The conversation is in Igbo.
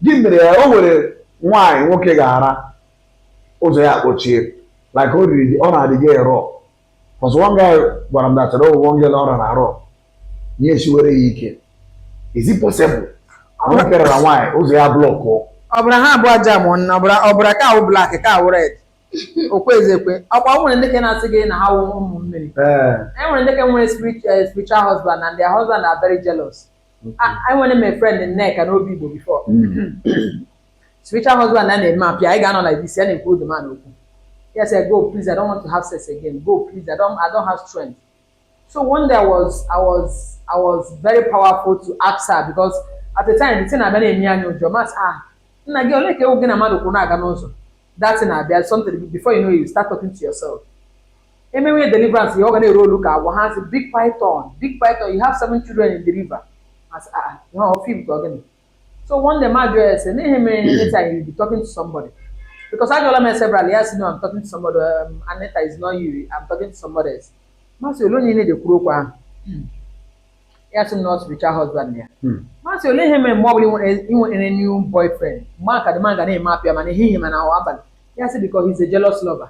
gị mere ya o nwere nwaanyị nwoke ga-ara ụzọ ya kpochie like o riri ọ na-adịghị erọ because one guy gwara m datara ụgwọ nge na ọra na arọ ya esiwere ya ike is it possible nwoke rara nwaanyị ụzọ ya block ọbara ha abụọ ajam na ọbara ọbara ka awụ black ka awụ red okwe ezekwe ọkwa o nwere ndị ka na-asị gị na ha wụ ụmụ mmiri ee e nwere ndị ka nwere spiritual husband and their husband are very jealous enwere m friend Nneka n'Obigbo before hmm. spiritual husband ya na-eme appear anyị ga-anọ like this ya na-ekwu the man okwu yes I go please I don't want to have sex again go please I don't I don't have strength so one day I was I was I was very powerful to ask her because at the time the thing abịa na-eme anyị ụjọ m asị ah nna gị ole ka ewu gị na mmadụ kwụ na-aga n'ụzọ that thing abịa something before you know you start talking to yourself emewe deliverance ihe ọ ga na-eroll ka agwọ ha sị big python big python you have seven children in the river a sị ah, ah ihe ọ film ka ọ gịnị so one day m ajụọ ya sị n'ihe mere anytime you be talking to somebody because ajụọla m several ya sị no I'm talking to somebody um, Anita is not you I'm talking to somebody else m asị ole onye na-adị ekwuru okwu ahụ ya sị na ọ spiritual husband ya hmm. m asị ole ihe mere mgbe ọ bụla i nwere new boyfriend mgbe ahụ ka the man ga na-eme appear ma n'ehihie ma n'abalị ya sị because he's a jealous lover